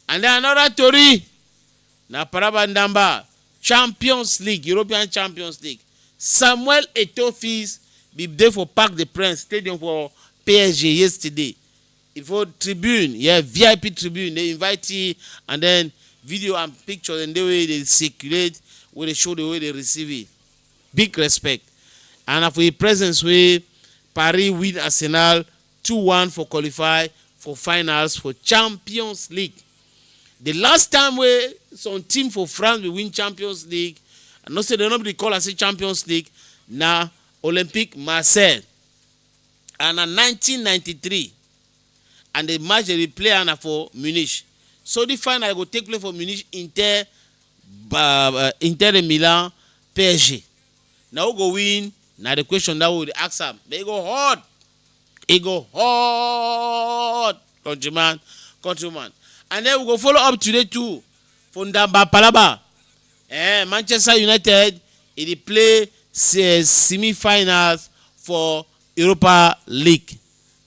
And then another tori na Paraba Ndamba Champions League, European Champions League. Samuel Eto'o Fils bin dey for Parc des Princes stadium for PSG yesterday. E for tribune, yeah, VIP tribune, dey invite him and then video and picture dem dey wey dey circulate wey dey show the way dey receive it. Big respect and na for im presence wey Paris win Arsenal two one for qualify for finals for Champions League. The last time wey some team for France bin win Champions League, I know say dem no bin dey call am say Champions League, na Olympique Marseille and na nineteen ninety three and the match dem dey play am na for Munich. So the final go take place for Munich Inter Inter de Milan psg na who go win na the question that we dey ask am but e go hot e go hot countryman countrywoman and then we go follow up today too for ndamba palaba eh manchester united e dey play se semi finals for europa league.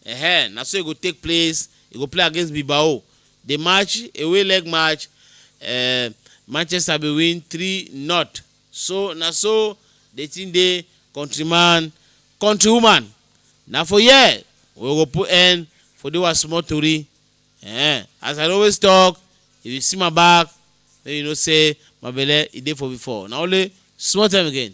Ehe, na so e go take place. E go play against Bilbao. The match, away leg match, uh, Manchester be win 3 not. So na so the thing dey countryman, countrywoman. Na for here we go put end for the one small tori. Eh, as I dey always talk, if you see my back, then you know say my belle e dey for before. Na only small time again.